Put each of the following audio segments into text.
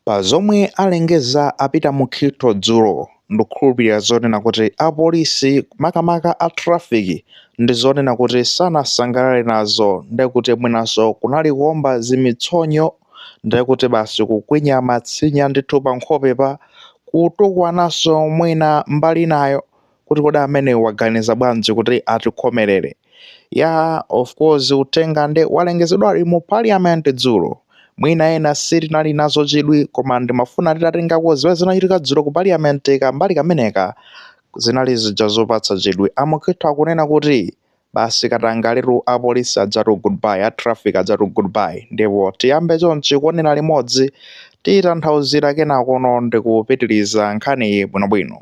Pa zomwe alengeza a Peter Mukhitho dzulo, ndikukhulupilira zonena kuti a polisi makamaka a traffic ndi zonena kuti sanasangalale nazo nde kuti mwinanso kunali kuomba zimitsonyo nde kuti basi kukwinya matsinya ndithu pa nkhope pa kutukwananso mwina mbali inayo. kuti kodi ameneyo waganiza bwanji kuti atikhomerere ya of course uthenga nde walengezedwa ali mu parliament dzulo mwina ena sitinali nazo chidwi koma ndimafuna titatengako zimene zinachitika dzulo ku parliament kambali kameneka zinali zija zopatsa chidwi a Mukhitho akunena kuti basi katangaletu apolisi ajatu goodbye a traffic ajatu goodbye ndipo tiyambe chonchi kuonera limodzi titanthauzira kenakono ndikupitiriza nkhaniyi bwinobwino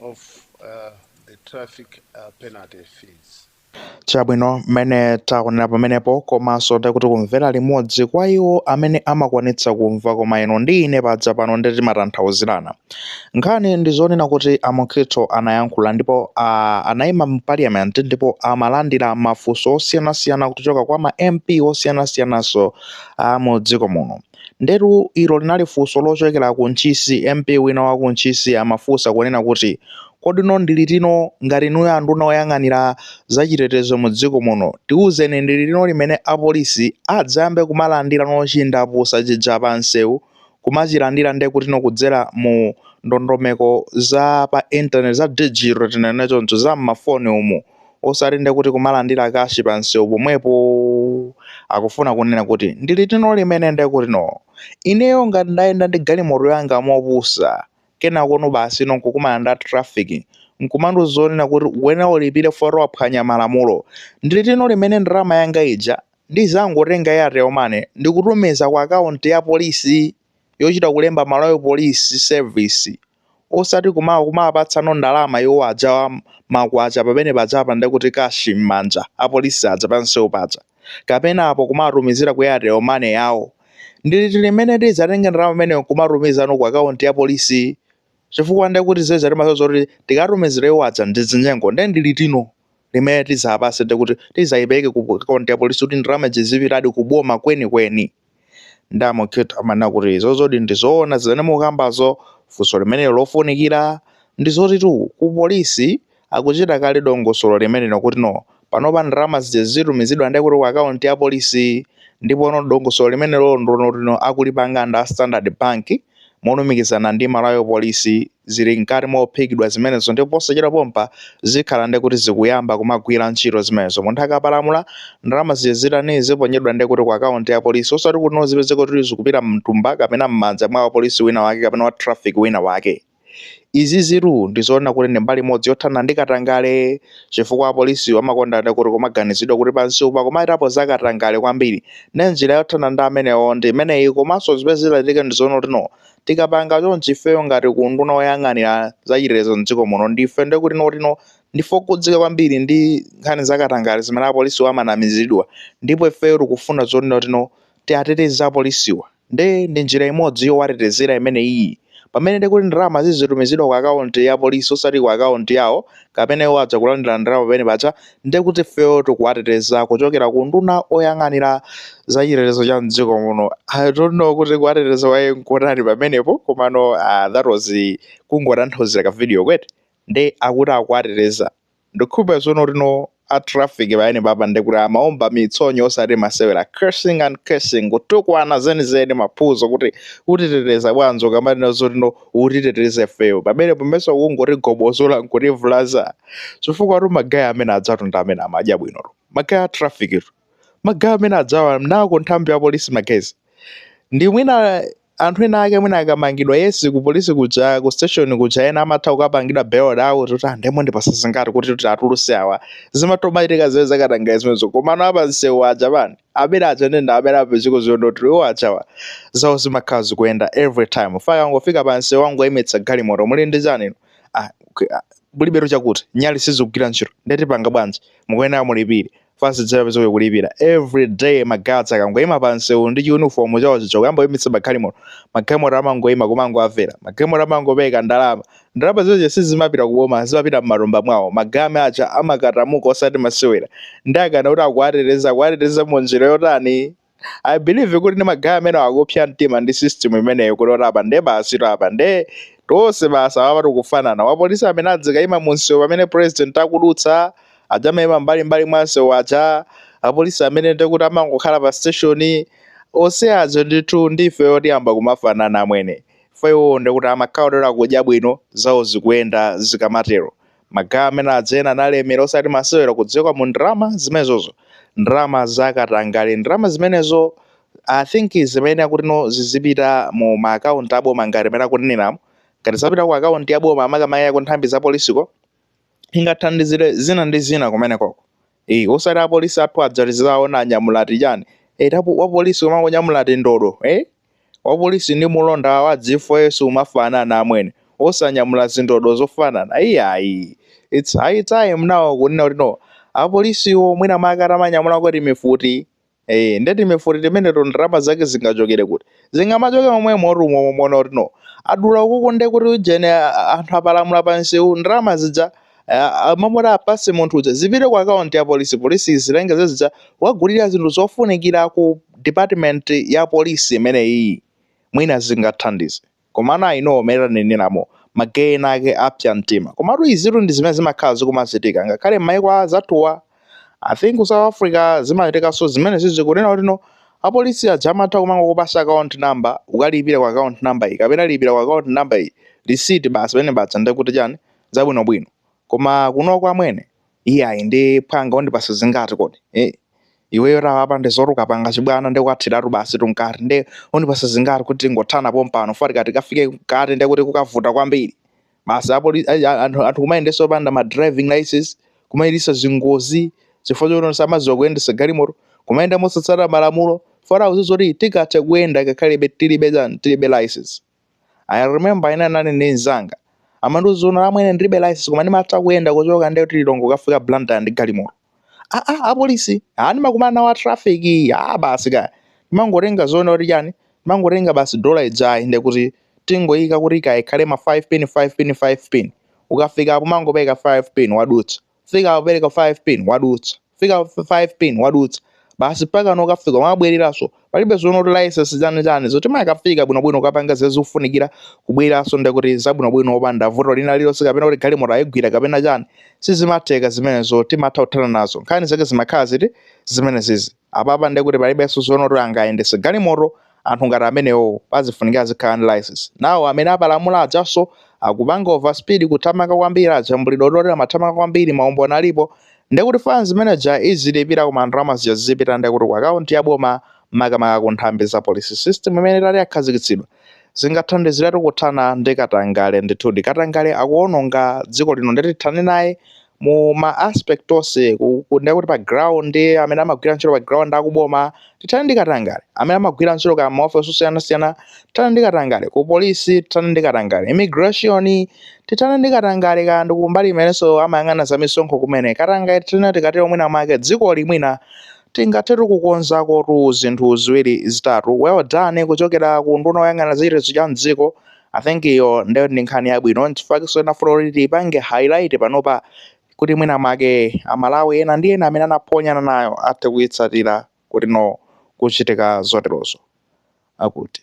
of uh, the traffic uh, penalty fees. chabwino mmene taonera pamenepo komanso nde kuti kumvera limodzi kwa iwo amene amakwanitsa kumva koma inu ndi ine paja pano ndi timatanthauzirana nkhani ndi zonena kuti a Mukhitho anayankhula ndipo uh, anayima mu parliament ndipo amalandira mafunso osiyanasiyana kuchoka kwa ma mp osiyanasiyananso a mu dziko muno Ndetu ilo linali funso lochokera ku Ntchisi, MP wina wa ku Ntchisi amafunsa kunena kuti kodino ndi litino ngati inuyo anduna oyang'anira zachitetezo mu dziko muno tiuzeni ndi litino limene apolisi adzayambe kumalandirano chindapusa chija pa msewu kumachilandira nde kutino kudzera mu ndondomeko za pa internet za digital tinene choncho za m'mafoni umu osati nde kuti kumalandira kashi pa msewu pomwepo akufuna kunena kuti ndi litino limene nde kuti no ineyo ngati ndayenda ndi galimoto yanga mopusa kenako no basi no nkukumana nda traffic nkumandiuza zonena kuti ukuyenera ulipire poti waphwanya malamulo ndi litino limene ndalama yanga ija ndizangotenga ya airtel money ndikutumiza ku akaunti ya polisi yochita kulemba malawi police service osati kuma kumawapatsano ndalama iwo aja makwacha pamene paja apa nde kuti kashi m'manja apolisi aja pansewu paja kapena apo kumawatumizira ku airtel money yawo ndi liti limene tidzatenge ndalama imeneyo kumatumizano ku akaunti ya polisi chifukwa nde kuti zeza timasoza kuti tikatumizira iwo aja ndi zinyengo ndi ndi litino limene tidzapatse nde kuti tidzayipereke ku akaunti ya polisi kuti ndalama zizipitadi kuboma kwenikweni kweni. nde a Mukhitho amanena kuti izozodi ndizowona zimene mukambazo funso limenelo lofunikira ndizotitu ku police akuchita kale dongosolo limenelo kuti no panopa ndalama zija zizitumizidwa nde kuti ku account ya police ndipo no dongosolo limenelo ndi lonena kuti no akulipanga nda standard bank molumikizana ndi Malawi Police zili mkati mophikidwa zimenezo ndipo posachedwa pompa zikhala nde kuti zikuyamba kumagwira ntchito zimenezo munthu akapalamula ndalama zija zitani ziponyedwa nde kuti ku account ya polisi osati kuti no zipezeke kuti zikupita mtumba kapena mmanja mwa wapolisi wina wake kapena wa traffic wina wake Izizitu ndizoona kuti ndi mbali imodzi yothana ndi katangale chifukwa apolisiwo amakonda ndi kuti kumaganizidwa kuti pansiwu akumachitapo za katangale kwambiri. Ndiye njira yothana ndi amenewo ndi imeneyi komanso zimene zitachitika ndi zoona kuti no tikapanga chonchi ifeyo ngati ku unduna oyang'anira za chitetezo m'dziko muno ndife ndi kuti no kuti no ndife okhudzika kwambiri ndi nkhani za katangale zimene apolisiwo amanamizidwa ndipo ifeyo tikufuna zonena kuti no tiateteze apolisiwa. Nde ndi njira imodzi yowatetezera imeneyiyi. Pamene nde kuti ndalama zizitumizidwa ku akaunti ya polisi osati ku akaunti yawo kapena iwo aja kulandira ndalama pamene paja, nde kuti ifeyo tikuwateteza kuchokera ku unduna oyang'anira za chitetezo cha m'dziko muno. I don't know kuti kuwateteza kwake n'kotani pamenepo komano ah, that was kungotanthauzira ka video eti? Nde akuti akuwateteza. Ndikukhulupira tsono kuti no a traffic pamenepapa ndekuti amaomba mitsonyo osati masewera cursing and cursing kutukwana zenizeni maphuzo kuti utiteteza bwanji akamanena zoti no utiteteze ifeyo pamene pomwe ukungotigobozola nkutivulaza chifukwa tu magayi amene ajatu ndi amene amadya bwino tu magayi a traffic tu magayi amene ajawa nako nthambi ya polisi magaye ndi mwina Anthu ena ake mwina akamangidwa yes ku police kuja ku station kuja ena amatha kukapangidwa bailed out kuti nde mundipatsa zingati kuti kuti atuluse awa zimatomachitika izi zakatangale zimenezo komano a pamsewu aja amwene amene aja ndi amene apezeko zoonoti iwo ajawa zawo zimakhala zikuyenda every time akaa angofika pa msewu angoyimitsa galimoto muli ndi chani inu? ah, k- ah, mulibetu chakuti nyali sizikugwira ntchito nde tipanga bwanji mukuyenera mulipire fast dzera penzo kulipira every day magaye aja akangoyima pa msewu ndi chiuniform chawo chicho kuyamba kuyimitsa magalimoto magalimoto amangoyima kumangowamvera magalimoto amangopeka ndalama ndalama zimenezo sizimapita kuboma zimapita m'matumba mwawo magaye aja amakatamuka osati masewera nde akamati kuti akuwateteza akuwateteza mu njira yotani I believe kuti ndi magaye amene akupsa mtima ndi system imeneyo kuti oti apa nde basitu apa nde tonse basi apa tikufanana apolisi amene azikaima mu msewu pamene president akudutsa aja amaima mbali mbali mwa msewu aja apolisi amene ndekuti amangokhala pa station onse aja ndithu ndife otiyamba kumafanana amwene ifeyo ndekuti amakhala kuti akudya bwino zawo zikuyenda zikamatero magaye amene aja ena analemera osati masewera kudziwika mu ndalama zimenezozo ndalama zakatangale ndalama zimenezo i think zimene akuti no zizipita mu ma account aboma ngati mmene akuneneramu ngati zapita ku account ya boma amakamaka ku nthambi za polisiko ingathandizire zina ndi zina kumenekoko Eyi osati apolisi athu aja tidzawaona anyamula ati chani eti apo wapolisi umangonyamula ati ndodo eh? wapolisi ndi mulonda wa G4S u umafanana amwene osanyamula zindodo zofanana iyayi its high time nawo kunena kuti no apolisiwo mwina mwake atamanyamula kaya mifuti Eh, nde timifuti timeneto ndalama zake zingachokere kuti zingamachoke momwe moti tumaona kuti no adula kuku nde kuti ujene a- anthu apalamula pansewu ndalama zija mmalo moti apase munthu uja zipite ku akaunti ya polisi polisi izitenga zija kuwagulira zinthu zofunikira ku department ya polisi imeneyiyi mwina zingathandize Komano I know mmene taneneramo magaye ena ake apsa mtima. Komatu izitu ndi zimene zimakhala zikumachitika ngakhale mmaiko a azathuwa. I think ku South Africa zimachitikanso zimenezizi kunena kuti no apolisi aja amatha kumangokupatsa account number ukalipire ku account number iyi kapena lipira ku account number iyi receipt basi pamene paja ndiye kuti chani zabwinobwino. Koma kunoko amwene. iyayi ndi phwanga undipatsa zingati kodi eh iweyo taona apa ndiye zoti ukupanga chibwana ndikuthiratu basi tunkati nde undipatsa zingati kuti tingothana pompano poti ukati ukafike kukhoti ndekuti kukavuta kwambiri basi apo li- a- a- anthu anthu kumayendetsa opanda ma driving license kumayendetsa zingozi chifukwa choti samadziwa kuyendesa galimoto kumayenda mosatsata malamulo chifukwa chodziwa zoti tikatha kuyenda ngakhalebe tilibe chani tilibe license I remember ine ndinali ndi mzanga amandiuza kunena amwene ndilibe license koma ndimatha kuyenda kuchoka ndi kuti Lilongwe kukafika blantyre ndi galimoto ah ah apolisi ah ndimakumana nawo a traffic ah basi kaya ndimangotenga zonena kuti chani ndimangotenga basi dola ijayi ndekuti tingoyika kuti kaya ikhale ma 5 pin 5 pin 5 pin ukafika apo umangopereka 5 pin wadutsa fika wapereka 5 pin wadutsa fika 5 pin wadutsa basi mpakana kukafika wabwereranso palibe zonena kuti license chani chani timakafika bwinobwino kukapanga zimene zikufunikira kubwereranso ndekuti zabwinobwino opanda vuto lina lilonse kapena kuti galimoto ayigwira kapena chani sizimatheka zimenezo timatha kuthana nazo nkhani zake zimakhala ziti zimenezizi Apapa ndiye kuti palibenso zonena kuti angayendetse galimoto anthu ngati amenewowo pazifunika azikhala ndi license. Nawo amene apalamula ajanso akupanga over speed kuthamanga kwambiri ajambulidwa kuti oterewa amathamanga kwambiri maumboni alipo ndiye kuti fine imene ija azilipira koma ndalama zija zizipita ndiye kuti ku account ya boma makamaka ku nthambi za police. System imeneyi itati yakhazikitsidwa zingathandiziretu kuthana ndi katangale ndithudi katangale akuononga dziko lino ndiye tithane naye mu ma aspect onse kunena kuti pa ground amene amagwira ntchito pa ground kuboma tithane ndi katangale amene amagwira ntchito m'maofesi osiyanasiyana tithane ndi katangale ku polisi tithane ndi katangale immigration tithane ndi katangale kaya ndi kumbali imenenso amayang'ana za misonkho kumene katangale tithane tikatero mwina mwake dzikoli mwina tingathetu kukonzako tizinthu ziwiri zitatu well done kuchokera ku nduna yoyang'ana za chitetezo cha mdziko I think iyo ndiyo ndi nkhani yabwino nchifukwa ndinafuna kuti tiipange highlight panopa kuti mwina mwake amalawi ena ndi ena amene anaphonyana nayo athe kuitsatira kuti no kuchitika zoterozo akuti